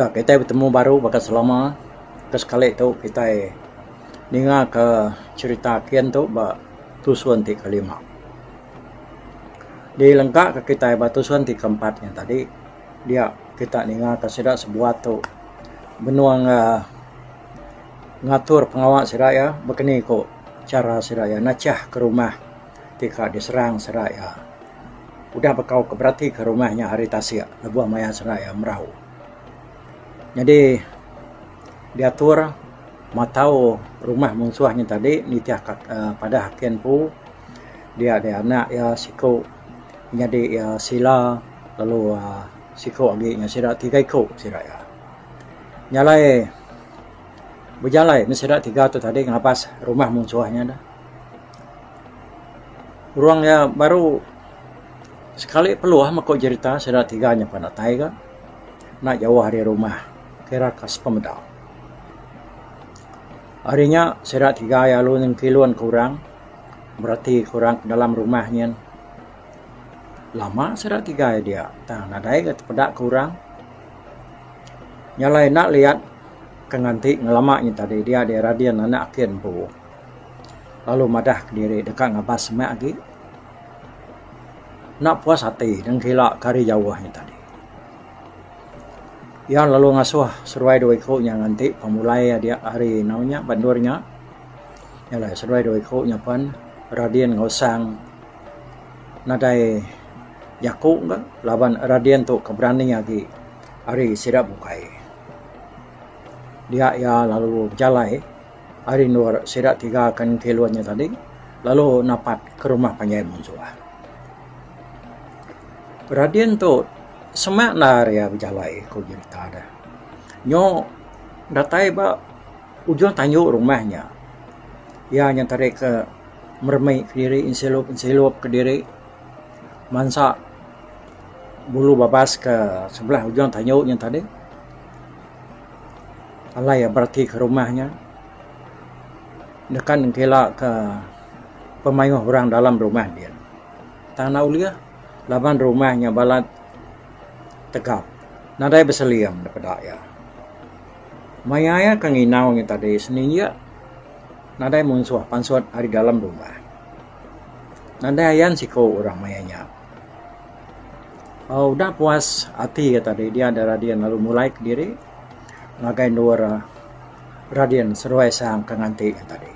Ya kitai betemu baru baka selama ke sekali tu kitai ninga ka cherita kin tu ba tusun ti kelima. Dilengka ka kitai ba tusun ti keempat nya tadi Dia kita ninga ka sida sebuah tu benung uhh ngatur pengawa sida iya baka ni ku chara sida iya nachah ka rumah ti ka diserang sida iya. Udah bekau ka berati ka rumah nya hari tasik lebuh maya sida iya merau. Nyadi diatur matau rumah munsuh nya tadi nitih ka padah kin empu dia di anak iya siku. nyadi sila lalu uhh siku agi ngan sida tiga iku sida iya. Nyalai bejalai meh sida tiga tu tadi ngabas rumah munsuh nya dah. Urang iya baru sekali peluh meku jerita sida tiga nya pan datai ga enda jauh ari rumah kira ka sepemeda. Ari nya sida tiga iya lalu nengkilun ke urang. bereti ku orang ke dalam rumah nyin lama sida tigai dia tang nadai ga tepeda ku orang. Nya alai enda liat ke nganti ngelama nyin tadi dia dei radin anak ake empu lalu madah ke diri deka ngabas semak agi. Enda puas ati nengkila ke hari jauh nyin tadi. Iya lalu ngasuh seruai dua iku nya nganti pemulai adik hari eno nya ba endur nya. Nya alai seduai dua iku nyapan Radin enggau Sang nadai jaku ka laban Radin tu ke berani agi ari sida bukai. Dia iya lalu bejalai ari endur sida tiga ke nengkilun nya tadi lalu napat ke rumah panjai Munsuh. Radin tu sema endar iya bejalai ku jerita deh. Nyu datai ba Ujung tandu rumah nya, iya nyenterika meremik kediri ensilup-ensilup kediri mansa bulu babas ke sebelah ujung tandu nya tadi. Alai iya beratika rumah nya nekan engkila ke pemayuh orang dalam rumah dia. Tang enda ulih laban rumah nya balat tegap nadai beseling da peda iya. Maya iya ke nginau nya tadi sendiri iya nadai munsuh pansut ari dalam rumah. Nadai ayan siku orang maya nya. Aaa udah puas ati iya tadi dia da Radin lalu mulai kediri ngagai endur Radin seruai sang ke nganti nya tadi.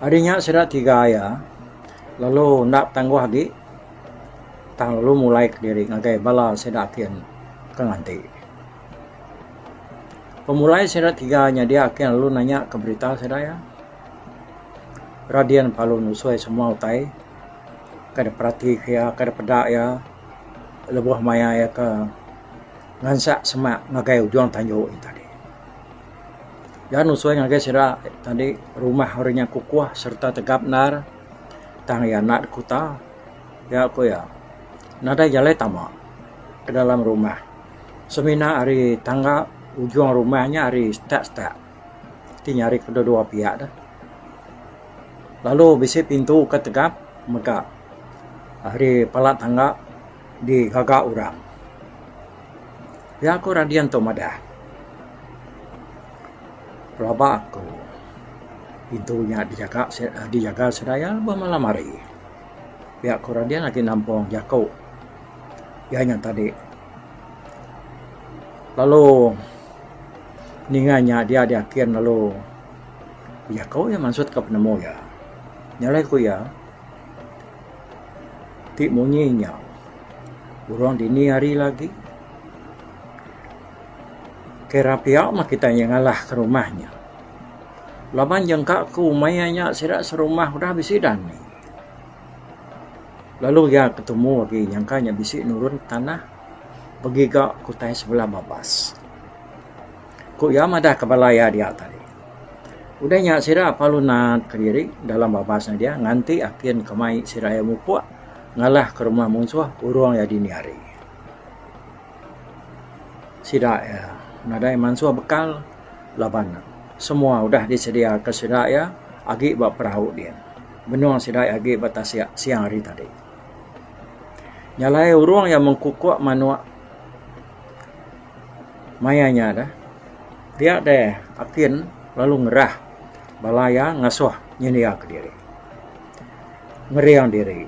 Ari nya sida tiga iya lalu enda betangguh agi. Tang lalu mulai kediri ngagai bala sida ati ke nganti. Pemulai sida tiga nya dia ake lalu nanya ke berita sida iya. Radian palu nusoi semua utai ke diperati ke iya ke dipeda iya lebuh maya iya ke ngansak semak ngagai ujung tanju nya tadi. Iya nusoi ngagai sida tadi rumah ori nya kukuh sereta tegap endar. Tang iya enda dikuta, nya ku iya nadai jalai tama ke dalam rumah. Semina ari tangga ujung rumah nya ari step step ti nyari kedua dua pia ne. Lalu bisi pintu ke tegap mega ari pala tangga. di gaga orang. Pia ku Radin tu madah. Pelaba aku pintu nya dijaga dijaga seraya lebuh malam hari. Pia ku Radin agi nampung jaku iya nya tadi lalu ninga nya dia diakin lalu bejaku iya mansut ka penemu iya. Nya alai ku iya. Ti munyi nya orang dini hari lagi kai rapia mah kitai nya ngalah ka rumah nya. Laban jangka aku meh iya nya sida serumah udah bisi dani. Lalu iya ke tumu agi nyangka iya bisi nurun tanah begiga ke utai sebelah babas. Ku iya madah ka bala iya diak tadi. Udah nya sida parlu naat kediri dalam babas ne dia nganti akin ke mai sida iya mupok ngalah ke rumah munsuh urung iya dini hari. Sida iya nadai mansuh bekal laban semua udah disedia ke sida iya agi ba perahu din benung sida iya agi ba tasik siang hari tadi. Nya alai urung iya mengkukok manok. Maya nya deh, pia deh Apin lalu ngerah bala iya ngasuh nyendiaka diri, ngering diri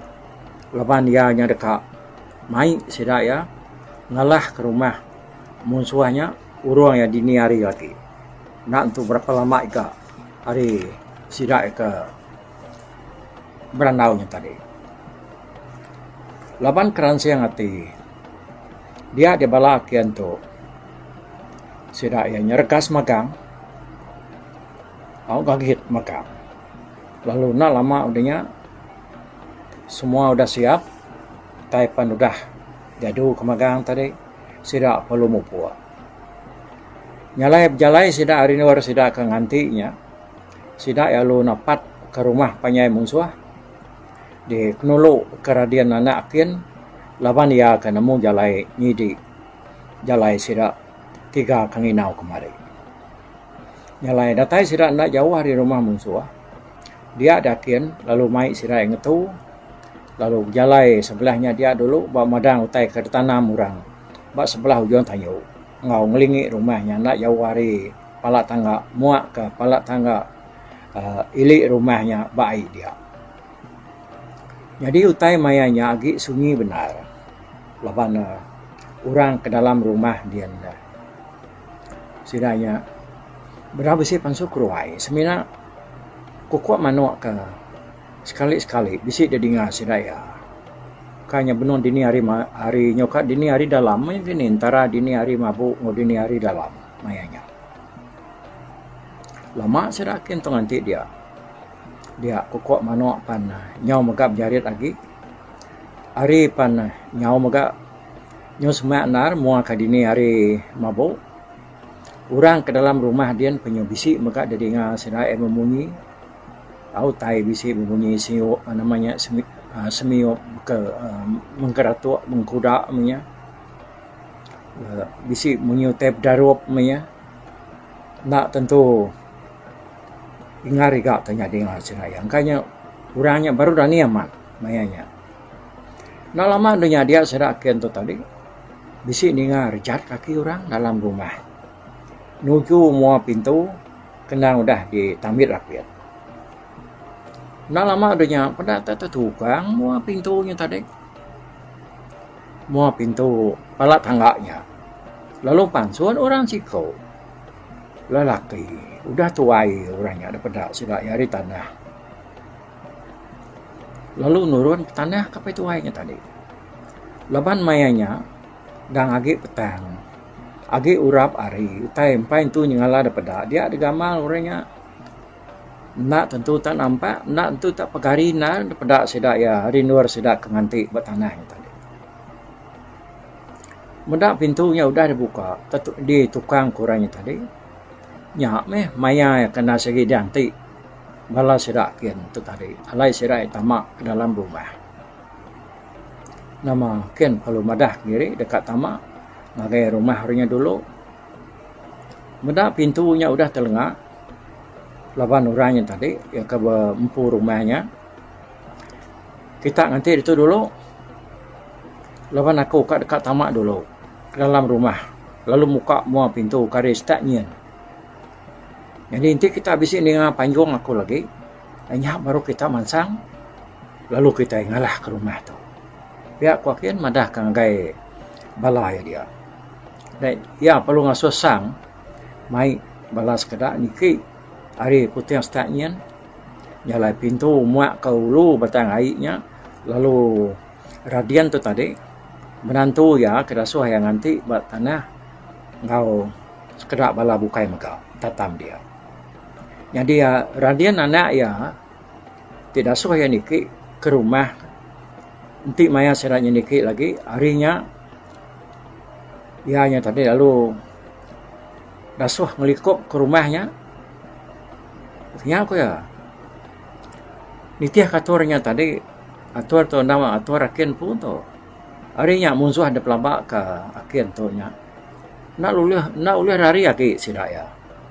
laban iya nya deka mai sida iya ngalahka rumah munsuh nya urung iya dini hari lagi. Enda tentu berapa lama ika ari sida iya ke. berandau nya tadi. Laban keransing ati dia di bala aki antu sida iya nya regas magang au gagit magang lalu enda lama udah nya semua udah siap tai pan udah diadu ke magang tadi sida perlu mupuk. Nya alai bejalai sida ari liwar sida ke nganti nya. Sida iya lalu napat ka rumah panjai munsuh di penulu ka radin anak kin laban iya ka nemu jalai nyidi jalai sida tiga ka nginau kemari. Jalai datai sida enda jauh ari rumah munsuh dia da kin lalu mai sida iya ngetu lalu bejalai sebelah nya dia dulu ba madang utai ka ditanam orang ba sebelah ujung tanyu enggau ngelingi rumah nya enda jauh ari. pala tangga muak ka pala tangga aaa ili rumah nya ba ai dia. Nyadi utai maya nya agi sunyi bendar laban ne orang ke dalam rumah ndien ne sida nya bera bisi pansu keruai semina kuko manok ka sekali sekali bisi da dinga sida iya. Ka nya benung dini hari ma ari nyoka dini hari dalam meng dini ntara dini hari mabu enggau dini hari dalam. maya nya. Lama sida kin tu nganti dia. Dia kuko manok pan nyau mega bejarit agi. Ari pan nyau mega nyu sema endar mua ka dini ari mabu. Orang ke dalam rumah din pun nyu bisi mega didinga sida iya bemunyi. Au tai bisi bemunyi siuk nama nya semiup ke mengkeratok mengkuda menya. Bisi munyi utai bedarup meh iya. Enda tentu ingar iga ke nyadi enggau asen iya. Engka inya orang nya baru dani amat maya nya. Enda lama deh nya dia sida ake ento tadi bisi ninga rejat kaki orang dalam rumah nuju mua pintu kena udah ditambit rapit. Enda lama deh nya peda tok tukang mua pintu nya tadi. Mua pintu bala tangga nya lalu pansut orang siko lelaki udah tuai orang nya deh peda sida iya ari tanah lalu nurun ke tanah ke apai tuai nya tadi. Laban maya nya dang agi petang agi urap ari utai empai entu nyengala deh peda dia deh gamal orang nya. Enda tentu tak nampak, enda tentu tak pegari endar peda sida iya ari endur sida ke nganti ba tanah nya tadi. Meda pintu nya udah dibuka, ditukang ku orang nya tadi, nya meh maya iya ke enda sigi dianti bala sida kin tu tadi. Alai sida iya tama ke dalam rumah. Nama kin perlu madah diri deka tama ngagai rumah orang nya dulu. Meda pintu nya udah telenga. laban orang nya tadi iya ke empu rumah nya kita nganti ditu dulu laban aku ka deka tama dulu ke dalam rumah lalu muka mua pintu kari start nyin. Jadi enti kita bisi ninga panjung aku lagi nya baru kita mansang lalu kita ngalah ka rumah tu. Pia ku aku madah ka ngagai bala iya dia. Iya perlu ngasuh sang. mai bala sekeda niki ari puting stat nyin jalai pintu muak ka ulu batang ai nya lalu radian tu tadi menantu iya ke dasuh iya nganti ba tanah enggau sekeda bala bukai mega tatam dia. Nyadi radian anak iya ti dasuh iya niki ke rumah enti maya sida nya niki lagi ari nya iya nya tadi lalu Dasuh ngelikup ke rumah nya, nya ku iya nitihka atur nya tadi. Atur tu enda meh atur ake empu tu. Ari nya munsuh dep laba ke ake tu nya, enda ulih enda ulih lari agi sida iya.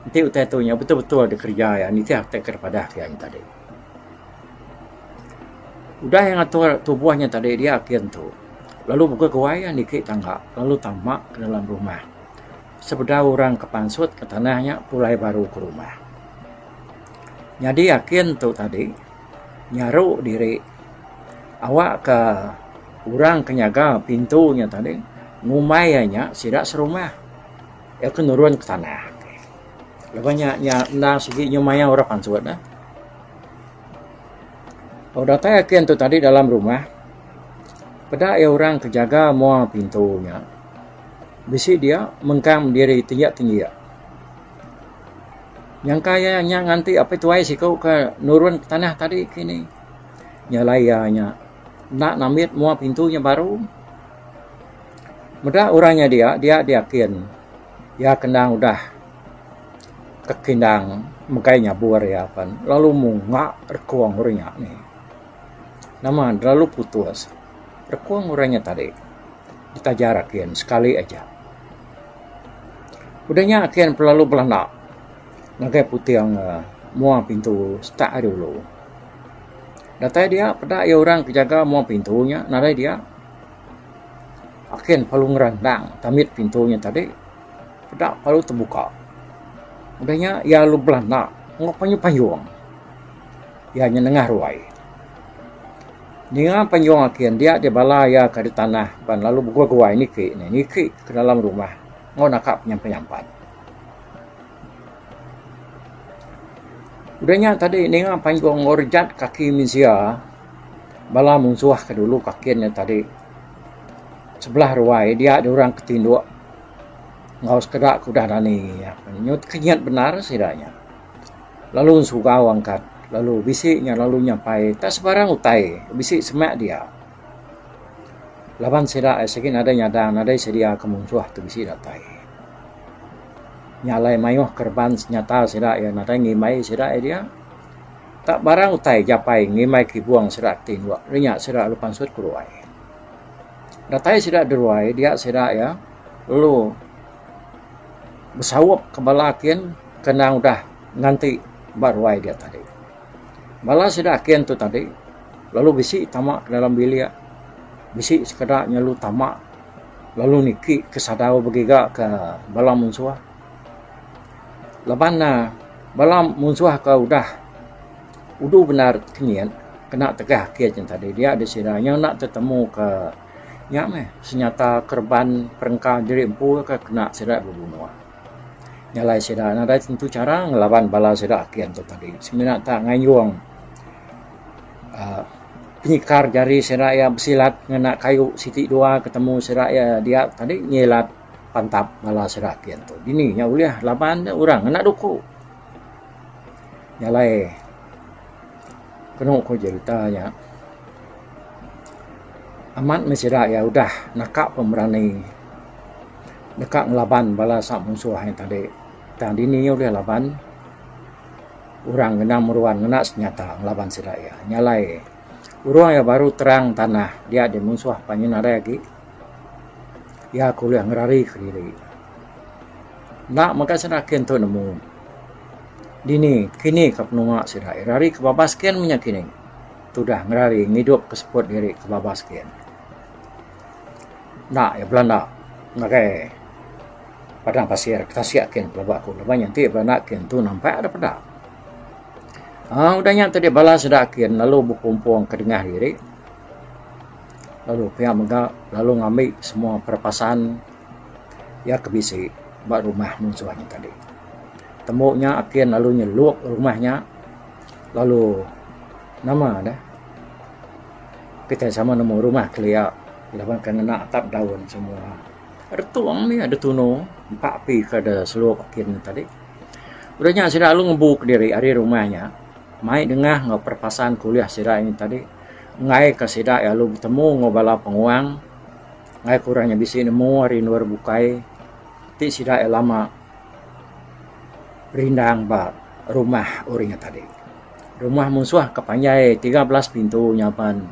Enti utai tu nya betul-betul dikereja iya nitih utai ke dep padah ke iya nya tadi. Udah iya ngatur tubuh nya tadi dia gin tu lalu buka guai iya niki tangga lalu tama ke dalam rumah. Sebeda orang ke pansut ke tanah nya pulai baru ke rumah. Nyadi iya gin tu tadi nyaru diri awakka orang ke nyaga pintu nya tadi ngumbai iya nya sida serumah. Iya ke nurun ke tanah. Laban nya iya enda sigi nyau mayau orang pansut dah. Lalu datai agi antu tadi dalam rumah. Peda iya orang ke jaga mua pintu nya. Bisi dia mengkang diri tinggik tinggik. Nyangka iya nya nganti apai tuai siku ke nurun ke tanah tadi kini. Nya alai iya nya enda nambit mua pintu nya baru. Meda orang nya dia dia diakin. Iya ke endang udah tang ke endang megai nyabur iya pen lalu munga rekong orang nya nih. Nama ne lalu putus rekong orang nya tadi ditajar agi ne sekali aja. Udah nya agi ne lalu belanda ngagai puting uhh mua pintu setak ari ulu. Datai dia peda iya orang ke jaga mua pintu nya nadai dia. Akin palu ngerandang tamit pintu nya tadi. Peda palu tebuka. Udah nya iya lalu belanda enggau panyung-panyung. Iya nya nengah ruai. Ninga panyung Akin dia deh bala iya ka ditanah pan lalu beguai-guai niki ne niki ke dalam rumah enggau naka penyampat-nyampat. Udah nya tadi ninga panyung enggau rejat kaki mensia. Bala munsuh ke dulu ke kin ne tadi sebelah ruai dia diorang ke tinduk enggau sekeda ke udah dani iya ke nyut kinyit bendar sida nya lalu ensugau angkat lalu bisi nya lalu nyampai nta sebarang utai bisi semak dia laban sida ai sigi nadai nyadang nadai sedia ke munsuh tu bisi datai. Nya alai mayuh ke reban senyata sida iya nadai ngimbai sida ai dia. Tak barang utai japai ngimbai kibung sida ti enggau rinya sida lalu pansut ke ruai. Datai sida di ruai dia sida iya lalu besaup ke bala kin ke endang udah nganti ba ruai dia tadi. Bala sida kin tu tadi lalu bisi tama ke dalam bilik bisi sekeda nya lalu tama lalu niki ke sadau begiga ke bala munsuh. Laban ne bala munsuh ke udah udu bendar ti kinyit kena tegah kiye cin tadi dia deh sida inya enda tetemu ke nya meh senyata kereban perengka diri empu ke kena sida bebunuh. Nyalai sida nadai tentu chara ngelaban bala sida ake ento tadi semina ta ngayung aaa penyekar jari sida iya besilat ngena kayu siti dua ketemu sida iya dia tadi nyilat. pantap bala sida ati antu dini nya ulih laban ne orang ngena duku jalai penu ku jerita nya amat meh sida iya udah naka pemerani deka ngelaban bala sa munsuh nya tadi tang dini nya ulih laban orang ngena meruan ngena senjata ngelaban sida iya jalai orang iya baru terang tanah dia dimunsuh panjen nadai agi. Iya ke ulih ngerarika diri. Enda mega sida agi ntu nemu dini kini ka penua sida. Iya rari ke babas gin menya kini tudah ngerari ngidupka seput diri ke babas gin. Enda iya belanda ngagai padang pasir ke tasik gin pelaba aku. Laban nya ti belanda agi ntu nampak dep peda. Aaa udah nya ti bala sida agi lalu bekumpulka dengah diri. lalu pia mega lalu ngambi semua perapasaan iya ke bisi ba rumah munsuh nya tadi. Tembu nya ake lalu nyeluk rumah nya lalu nama deh kitai sama nemu rumah kelia laban ke ngena atap daun semua. Retung mih adeh tunu empa api ke de seluk ake nya tadi. Udah nya sida lalu ngembu kediri ari rumah nya mai dengah enggau perapasaan ke ulih sida nya tadi. ngaika sida lalu betemu enggau bala penguang ngaika orang nya bisi nemu ari endur bukai ti sida iya lama rindang ba rumah orang nya tadi. Rumah munsuh ka panjai tiga belas pintu nyaban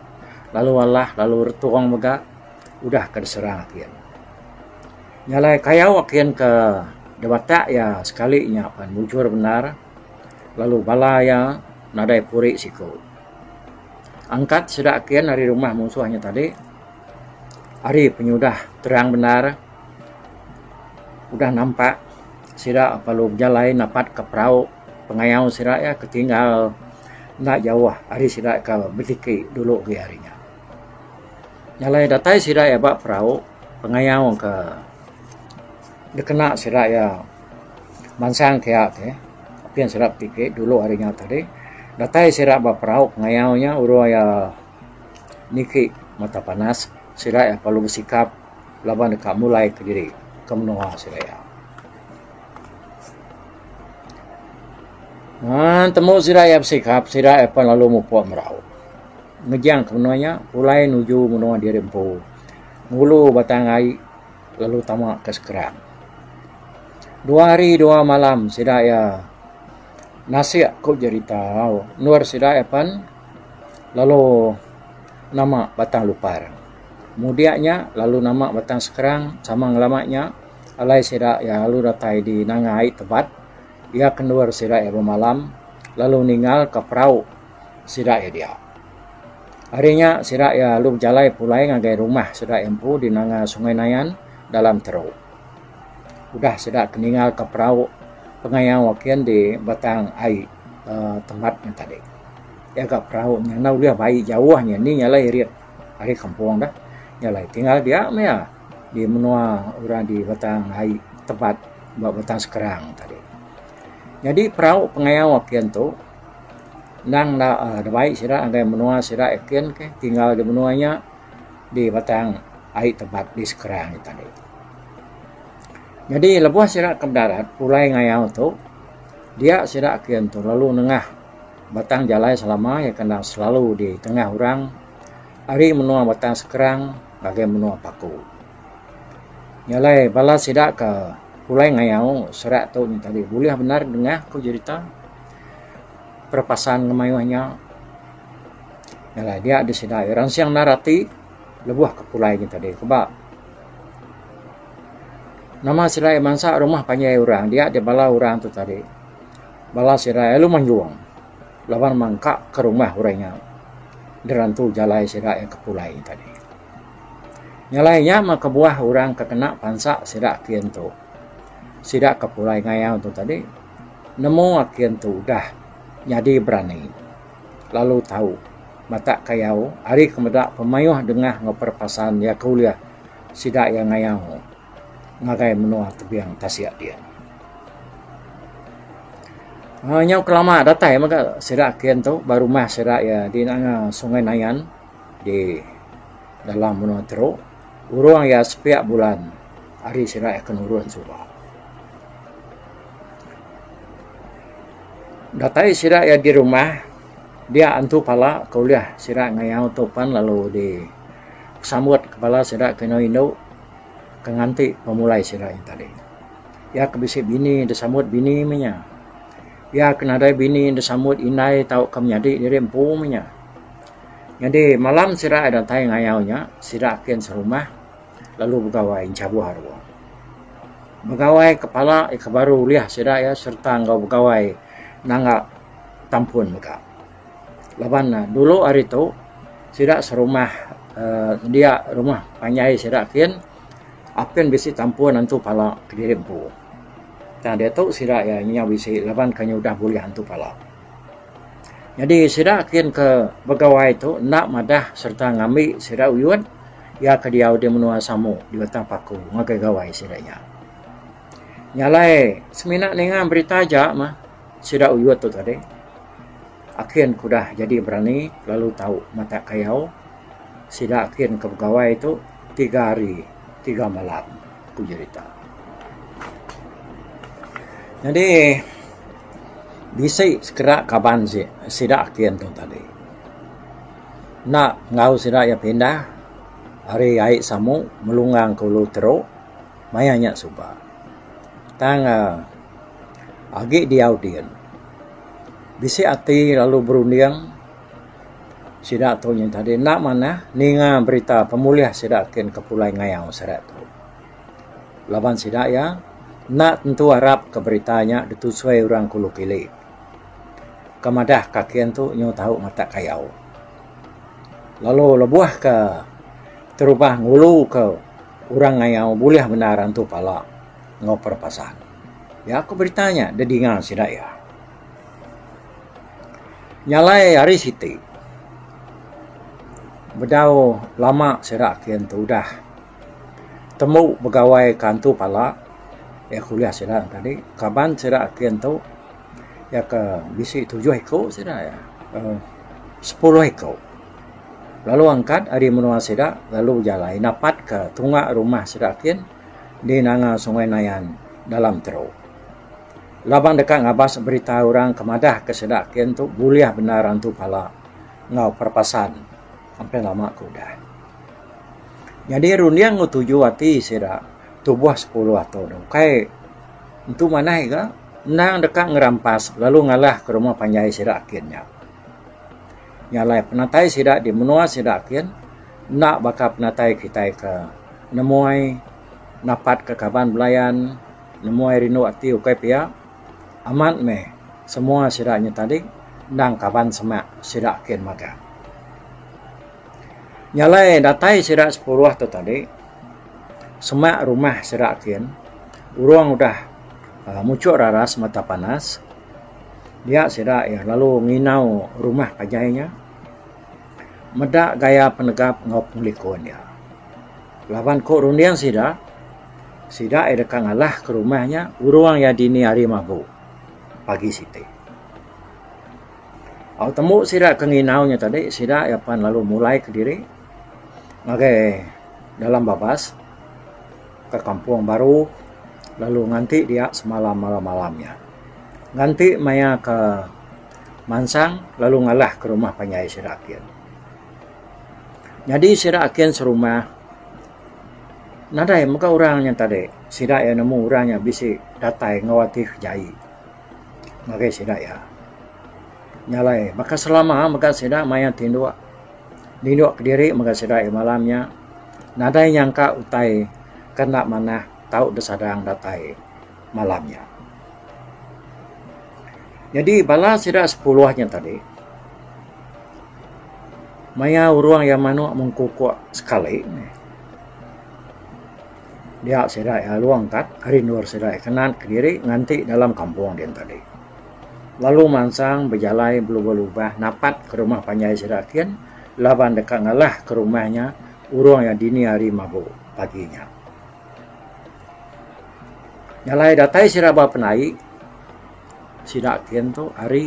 lalu alah lalu retong mega udah ka diserang agi. Nya alai kayau agi ka debata iya sekali nya pan mujur bendar. lalu bala iya nadai puri siku. Angkat sida kin ari rumah musuh inya tadi ari penyudah terang bendar udah nampak sida lalu bejalai napat ka perau pengayau sida iya ke tinggal enda jauh ari sida ka betiki dulu agi ari nya. Jalai datai sida iya ba perau pengayau ka Dikena sida iya mansang kiya ti apin sida betiki dulu ari nya tadi datai sida ba perau pengayau nya urung iya niki mata panas sida iya perlu besikap laban deka mulai ke diri ke menua sida iya. Ngan temu sida iya besikap sida iya pan lalu mupuk merau ngejang ke menua nya pulai nuju menua diri empu ngulu batang ai lalu tama ka Skrang. Dua hari dua malam sida iya nasik ku jerita endur sida iya pen lalu nama Batang Lupar. Mudik nya lalu nama Batang Skrang sama ngelama nya alai sida iya lalu datai di Nangai Tebat. Iya ke endur sida iya bemalam lalu ningal ka perau. sida iya dia. Ari nya sida iya lalu bejalai pulai ngagai rumah sida iya empu di nanga Sungai Nayan dalam teru. Udah sida ke ninga ka perau pengayau ake enti batang ai aaa tempat nya tadi. Iya ka perau nya enda ulih bai jauh nya indi nya alai irit ari kampung deh. Nya alai tinggal dia meh iya di menua orang di batang ai tempat ba batang sekerang tadi. Nyadi perau pengayau ake ento. Endang enda dibai sida ngagai menua sida nyiken ke tinggal di menua nya di batang ai tempat di Skrang nya tadi. Nyadi lebuh sida ke bedarat pulai ngayau tu dia sida nyiken tu lalu nengah batang jalai selama iya ke enda selalu di tengah orang ari menua batang Skrang ngagai menua Paku. Nya alai bala sida ke pulai ngayau sida tu nya tadi bulih bendar nengah ku jerita. Perapassan da mayuh nya dia da sida ira nsing nanda ati lebuh ka pulai nya tadi kuba nama sida ira mansa rumah panjai orang dia da bala orang tu tadi bala sida lalu manjung laban mangka ka rumah orang nya da rantu jalai sida ira ka pulai nya tadi. Nyalai nya mah kebuah orang ka kena pansa sida kian tu sida ka pulai ngayau tu tadi. Nemu aki entu udah nyadi berani lalu tau matak kayau ari ke meda pemayuh dengah enggau perepasan iya ke ulih sida iya ngayau ngagai menua tebing tasik dia. Aaa nyau ke lama datai mega sida aki entu ba rumah sida iya di Sungai Nayan di dalam menua Teruk. Urung iya sepiak bulan ari sida iya ke nurun suba. Datai sida iya di rumah dia antu pala ke ulih sida ngayau tu pan lalu di sambut ke bala sida ke inu indu ke nganti pemulai sida nya tadi. Iya ke bisi bini di sambut bini meh nya. Iya ke nadai bini di sambut indai tauka menyadi diri empu meh nya. Nyadi malam sida iya datai ngayau nya sida kin serumah lalu begawai enchabuh arung. Begawai ke pala ke baru ulih sida iya sereta enggau begawai nanga tampun mega. Laban ne dulu hari tu sida serumah uhh dia rumah panjai sida kin apin bisi tampun antu pala kediri empu. Tang diatu sida iya nyau bisi laban ke nya udah bulih antu pala. Nyadi sida kin ke begawai tu enda madah sereta ngambi sida uyut iya ke diau di menua Samu di Batang Paku ngagai gawai sida nya. Nya alai semina ninga berita aja mah sida uyut tu tadi akin ke udah jadi berani lalu tau matak kayau sida kin ke begawai tu tiga hari tiga malam. ku jerita. Nyadi bisi sekeda kaban si sida ake antu tadi enda enggau sida iya pindah ari Ai Samu Melungang ke Ulu Tero maya nya suba tang uhh agi diau din bisi ati lalu berunding Sida tu nyin tadi enda manah ninga berita pemulih sida kin ke pulai ngayau seret tu. Laban sida iya enda tentu arap ke berita nya ditusui orang ke ulu kili. Ke madah ka kin tu nyu tau matak kayau. Lalu lebuh ke terubah ngulu ke orang ngayau bulih bendar antu pala enggau perepasan. Iya ku berita nya didinga sida iya. Nya alai ari siti bedau lama sida ke ntu udah temu begawai ka ntu pala iya kuliah sida tadi kaban sida ke ntu iya ke bisi tujuh iku sida iya uhh sepuluh iku lalu angkat ari menua sida lalu jalai napat ka tunga rumah sida kin di nanga Sungai Nayan dalam teruk. Laban deka ngabas berita orang ke madah ke sida kin tu bulih bendar antu pala enggau perpasan sampai lama ke udah. Nyadi runding enggau tuju ati sida tubuh sepuluh ato ne ukai entu manah iga endang deka ngerampas lalu ngalah ke rumah panjai sida kin nya. Nya alai penatai sida di menua sida kin enda baka penatai kitai ke nemoi napat ke kaban belayan. Nemuai rindu ati ukai pia amat meh semua sida inya tadi endang kaban semak sida kin magang. Nyalai datai sida sepuruh tu tadi semak rumah sida kin urung udah muchuk raras mata panas dia sida iya lalu nginau rumah panjai inya meda gaya penegap enggau pengelikun iya laban ku runding sida Sida iya deka ngalah ke rumah nya urung iya dini hari mabu pagi siti. Au tembu sida ke nginau nya tadi sida iya pan lalu mulai ke diri ngagai dalam babas ke kampung baru lalu nganti dia semalam malam-malam nya. Nganti maya ke mansang lalu ngalah ke rumah panjai sida akin. Nyadi sida akin serumah. nadai mega orang nya tadi sida iya nemu orang nya bisi datai enggau ati kejaie ngagai sida iya nya alai baka selama mega sida mayar tinduk ninduk kediri mega sida iya malam nya nadai nyangka utai ke enda manah tau disadang datai. malam nya. Nyadi bala sida sepuluh nya tadi maya urung iya manuk mengkukuk sekali dia sida iya long kat ari endur sida iya kenat kediri nganti dalam kampung dian tadi. Lalu mansang bejalai belubah lubah napat ke rumah panjai sida kin laban deka ngalah ke rumah nya urung iya dini hari mabu pagi nya. Nya alai datai sida ba penai sida kin tu hari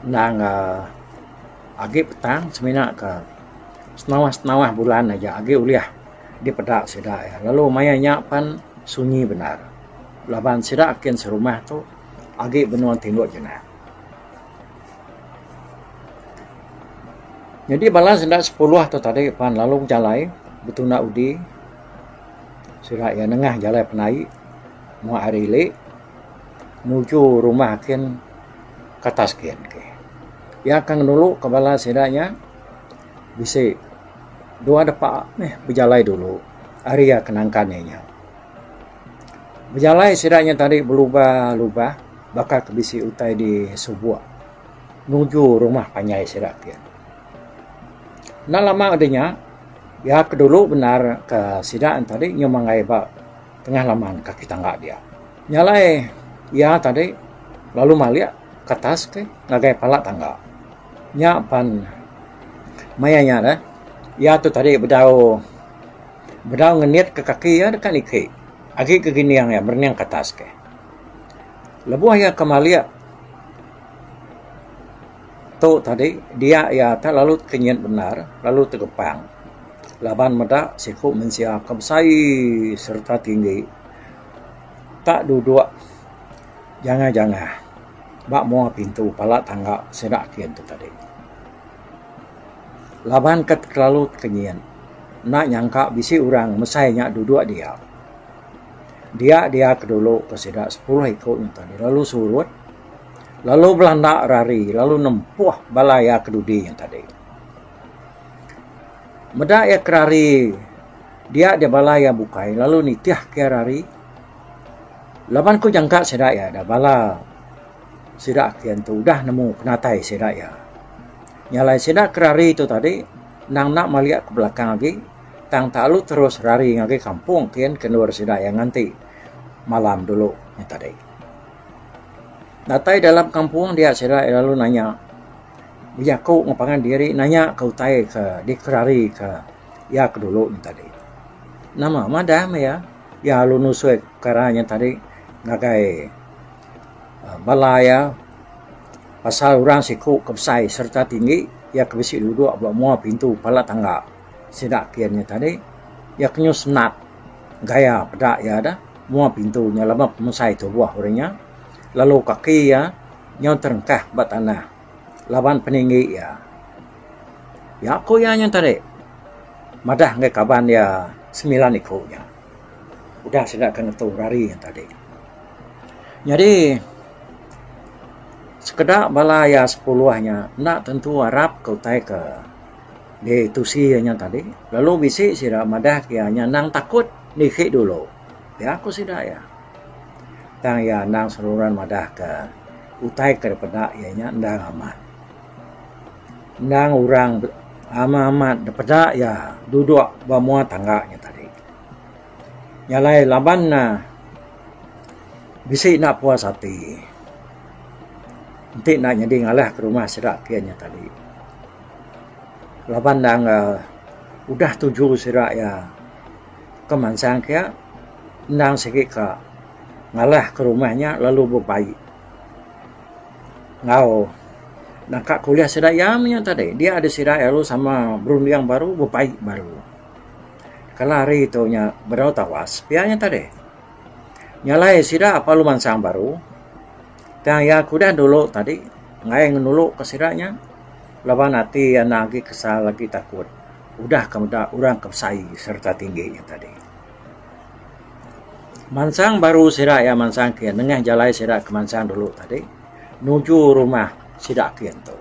endang aaa agi petang semina ka senawa senawa bulan aja agi ulih dipeda sida iya lalu maya nya pan sunyi bendar laban sida kin serumah tu agi benung tinduk jenak. Nyadi bala sida sikulah tu tadi pan lalu bejalai betuna udi sida iya nengah jalai penai mua hari ili nuju rumah kin ke atas kin ke. Iya ke ngenulu ke bala sida nya bisi dua depa meh bejalai dulu ari iya ke nangkan iya nya. Bejalai sida nya tadi belubah lubah. Baka ke bisi utai di subok nuju rumah panjai sida ti. Enda lama udah nya iya ke dulu bendar ke sida tadi nyau manggai ba tengah laman kaki tangga dia. Nya alai iya tadi lalu malik ke atas ti ngagai pala tangga. Nya pan maya nya neh iya tu tadi bedau bedau ngenit ke kaki iya deka niki agi ke gining iya merening ke atas ke. Lebuh iya ke malik tu tadi dia iya tu lalu tekenyit bendar lalu tegepang laban meda siku mensia ke besai sereta tinggi tak dudok jangah jangah ba menua pintu pala tangga sida ati antu tadi laban ke terlalu tekenyit enda nyangka bisi orang mesai nya dudok dia. Dia dia ke dulu ke sida sepuluh iku nya tadi lalu surut lalu belanda ira ari lalu nempuh bala iya ke dudi nya tadi. Meda iya ke ari dia dia bala iya bukai lalu nitih ke ira ari laban ku nyangka sida iya dah bala sida ke dian tu udah nemu penatai sida iya. Nya alai sida ke ari tu tadi nang enda malik ke belakang agi. Tang talu terus rari ngagai kampung kin ke endur sida iya nganti malam dulu nya tadi. Datai dalam kampung dia sida iya lalu nanya bejaku enggau pangan diri nanya ka utai ke dikerari ka iya ke dulu nya tadi. Nama madah meh iya, iya lalu nusoi pekara nya tadi ngagai aaa bala iya pasal orang siku ke besai sereta tinggi iya ke bisi duduk ba mua pintu palat tangga. Sida kian nya tadi iya kenyuh senat gaya peda iya dah mua pintu nya lama pemusai tubuh uri nya lalu kaki iya nyau terengkah ba tanah laban peninggi iya. Jaku iya nya tadi madah ngagai kaban iya semilan iku nya udah sida ke ngetu rari nya tadi. Nyadi sekeda bala iya sepuluh nya enda tentu arap ke utai ke. Di tusi iya nya tadi, lalu bisi sida madahka iya nya endang takut niki dulu pia ku sida iya. Tang iya endang seruran madahka utai ke dipeda iya nya endang amat. Endang orang amat-amat dipeda iya duduk ba mua tangga nya tadi. Nya alai laban ne bisi enda puas ati enti enda nyadi ngalahka rumah sida kiye nya tadi. laban dang aa udah tuju sida iya ke mansang kia endang sigi ka ngalah ke rumah nya lalu bebai enggau naka kuliah sida iya menya tadi dia deh sida iya lalu sama berunding baru bebai baru. Kala hari tu nya bedau tawas pia nya tadi nyalai sida lalu mansang baru. Tang iya ke udah dulu tadi enggai ngenulu ke sida nya laban ati iya enda agi kesal agi takut udah ke meda orang ke besai sereta tinggi nya tadi. Mansang baru sida iya mansang kiye nengah jalai sida ke mansang dulu tadi nuju rumah sida kiye tu.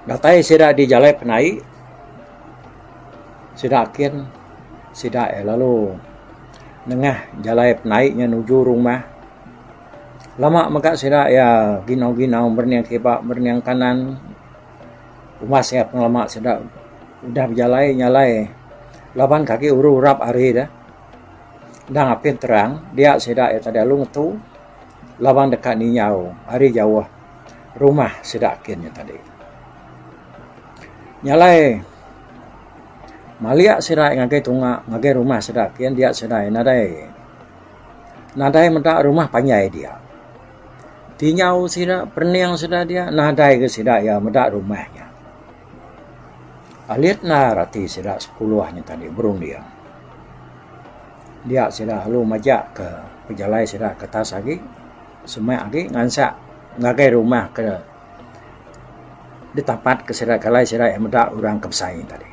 Datai sida di jalai penai sida kin sida iya lalu. Nengah jalai penai nya nuju rumah, lama mega sida iya ginau-ginau berening kiba berening kanan. Umas iya pengelama sida udah bejalai nya alai laban ke agi uru rap ari deh. Endang apih terang dia sida iya tadi alu ngetu laban deka ninyau ari jauh rumah sida kin nya tadi. Nya alai. Maliak sidai ngagai tunga ngagai rumah sida kian dia sidai nadai nadai meda rumah panjai dia. Tinjau sida perening sida dia nadai ga sida iya meda rumah nya. Alit endar ati sida sekuluh nya tadi berunding. Dia sida lalu majak ka pejalai sida kertas agi semak agi ngansak ngagai rumah ka Ditapat ke sida kalai sida iya meda orang ke besai tadi.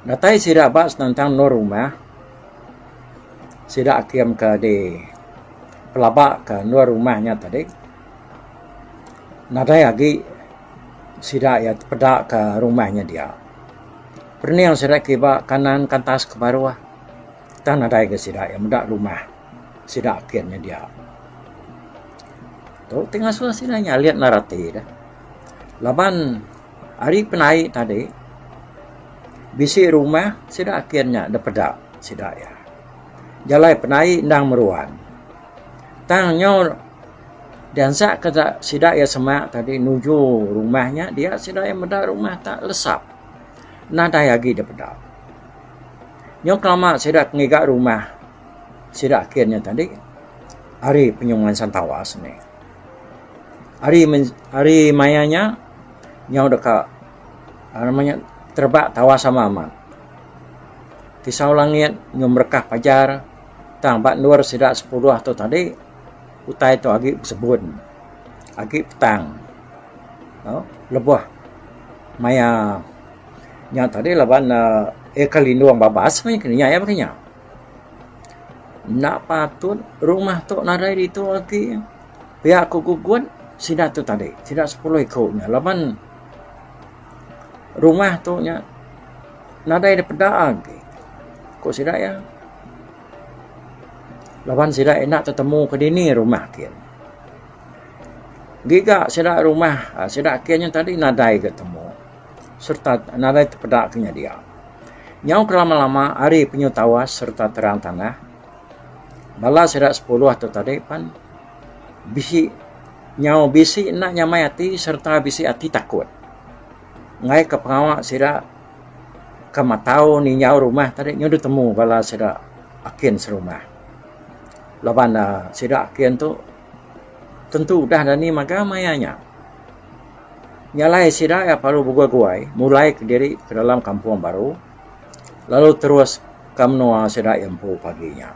Datai sida ba senentang endur rumah sida akim ke di pelaba ke endur rumah nya tadi nadai agi sida iya tepeda ke rumah nya dia. Perening sida kiba kanan ke atas ke baruh tang nadai agi sida iya meda rumah sida akim nya dia. Tu ti ngasuh sida nyalin lalu rati deh. Laban ari penai tadi bisi rumah sida kin nya deh peda sida iya. Jalai penai endang meruan. Tang nyau diansa ka sida iya semak tadi nuju rumah nya dia sida iya meda rumah tak lesap. Nadai agi deh peda. Nyau kelama sida ngiga rumah. Sida ake nya tadi ari penyuh ngensan tawas ni. Ari ari maya nya nyau deka nama nya terebak tawas sama amat. Tisau langit nyau merekah pajar tang ba endur sida sepudah tu tadi utai tu agi besebun agi petang tau lebuh maya nya tadi laban um ea ke lindung babas meh ke nya ea meh ke nya. Enda patut rumah tu nadai ditu agi. Pia ku gugut sida tu tadi. Sida sepuluh iku nya laban rumah tu nya nadai da peda agi ku sida iya. Laban sida enda tetemu ke dini rumah ke. Giga sida rumah sida ke nya tadi nadai ga temu. sereta nadai tepeda ke nyedia. Nyau ke lama-lama ari penyu tawas sereta terang tanah, bala sida sepuluh tu tadi pan bisi nyau bisi enda nyamai ati sereta bisi ati takut. Ngaika pengawa sida ke matau ninjau rumah tadi nyu deh temu bala sida akin serumah. Laban ne sida akin tu tentu udah dani magang maya nya. Nya alai sida iya parlu beguai-guai mulaika diri ke dalam kampung baru lalu terus ka menua sida iya empu pagi nya.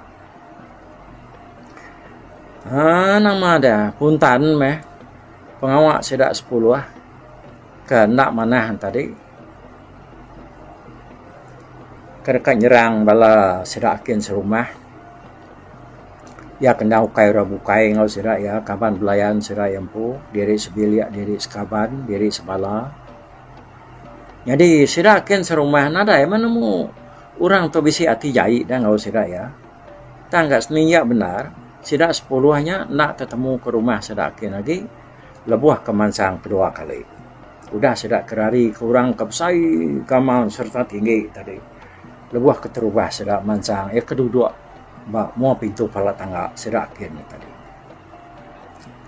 Haa nama dia Puntan meh pengawa sida sepuluh ke enda manah tadi ke deka nyerang bala sida kin serumah. Iya kena ukai orang bukai enggau sida iya kaban belayan sida iya empu diri sebilik diri sekaban diri sebala. Nyadi sida kin serumah nadai meh nemu orang tu bisi ati jai deh enggau sida iya. Tang gak seni iya bendar sida sepuluh nya enda tetemu ke rumah sida kin agi lebuh ke mansang kedua kali. Udah sida ke rari ke orang ke besai gamal sereta tinggi tadi. lebuh keterubah sida mansang iya ke duduk ba mua pintu pala tangga sida kin nya tadi.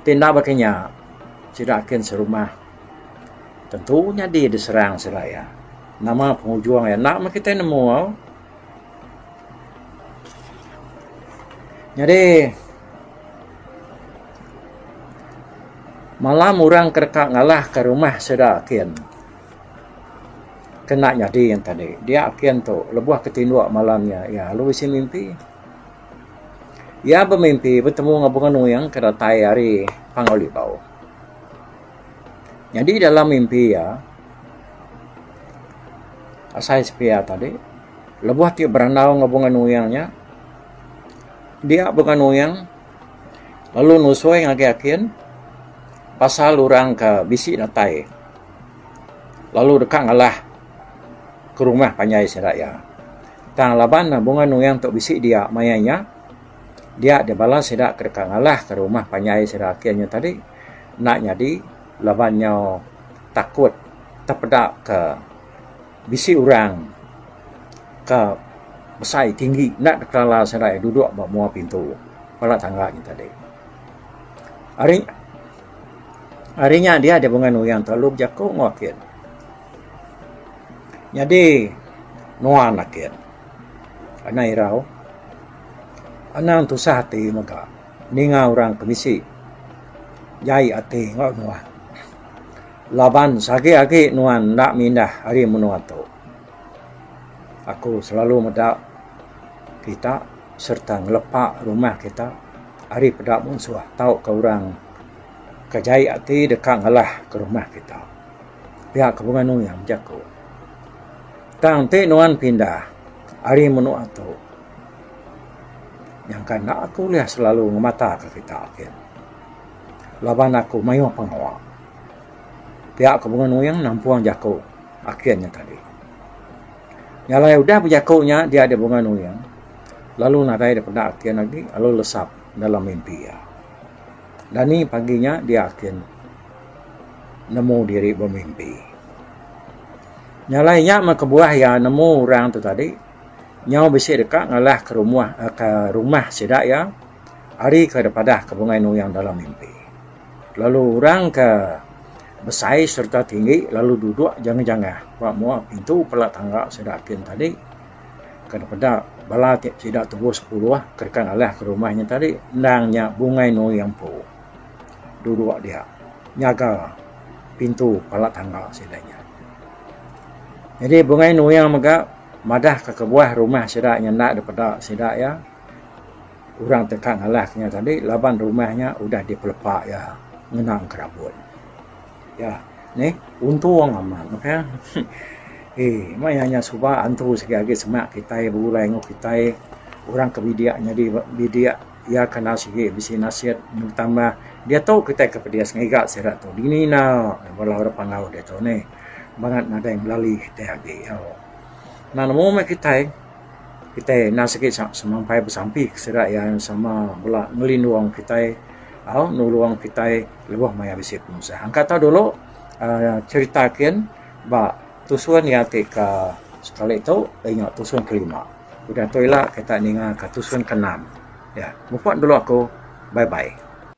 Ti enda baka nya sida kin serumah tentu nyadi diserang sida iya. Nama pengujung iya enda meh kitai nemu. Nyadi malam orang ke deka ngalahka rumah sida kin. Ke enda nyadi yen tadi dia ken tu lebuh ke tinduk malam nya iya lalu bisi mimpi. Iya bemimpi betemu enggau bunga nuing ke datai ari Panggau Libau. Nyadi dalam mimpi iya asai sepia tadi lebuh ti berandau enggau bunga nuing nya dia bunga nuing lalu nusui ngagai akin pasal orang ke bisi datai. lalu deka ngalah ke rumah panjai sida iya. Tang laban ne bunga nuing tu bisi dia maya nya, dia deh bala sida ke deka ngalah ke rumah panjai sida ake nya tadi enda nyadi laban nyau takut tepeda ke bisi orang ke besai tinggi enda deka lala sida iya duduk ba mua pintu bala tangga nya tadi. Ari ari nya dia deh bunga nuyan telalu bejaku enggau ake. Nyadi nuan ake anang irau anang tusah ati mega ninga orang ke bisi jai ati enggau nuan laban sagi agi nuan enda mindah ari menua tu. Aku selalu meda kita. sereta ngelepa rumah kita ari peda munsuh tauka orang ke jai ati deka ngelah ke rumah kita. Pia ke bunga nuing jaku. Tang ti nuan pindah ari menua tu nyangka enda aku ulih selalu ngemataka kita gin laban aku mayuh pengawa. Pia ke bunga nuing nampung jaku Akin nya tadi. Nyalai udah bejaku nya dia deh bunga nuyung lalu nadai deh peda akin agi lalu lesap dalam mimpi iya. Dani pagi nya dia akin nemu diri bemimpi. Nyalai nya meh kebuah iya nemu orang tu tadi nyau bisi deka ngalah ke rumuh ke rumah sida iya ari ke deh padah ke bunga nuyung dalam mimpi. Lalu orang ke besai sereta tinggi lalu duduk jangah-jangah ba mua pintu pela tangga sida kin tadi ke peda bala ti sida tubuh sepuluh ke deka ngalih ke rumah inya tadi endang nya Bungai Nui Empu duduk dia nyaga pintu pela tangga sida nya. Jadi Bungai Nui mega madahka kebuah rumah sida nya enda dipeda sida iya. Orang teka ngalas nya tadi laban rumah nya udah dipelepa iya ngena kerabut. Iya nih untung amat meh. Hee meh iya nya suba antu sida agi sema kitai begulai enggau kitai orang ke bidik nyadi bidik iya kena sigi bisi nasit betambah diatu kitai ke pedis ngiga sida tu dini ina bala orang pengawa diatu nih bangat nadai ngelali kitai agi. Au. Enda nemu meh kitai. Kitai enda sigi semampai besampi ke sida iya sama bala ngelindung kitai au nulung kitai lebuh maya bisi penusah. Angka tau dulu uhh cherita kin ba tusun iya ti ke sekali tu nya tusun ke lima. Udah tu ila kita ninga ka tusun ke enam. Mupok dulu aku. Bye bye.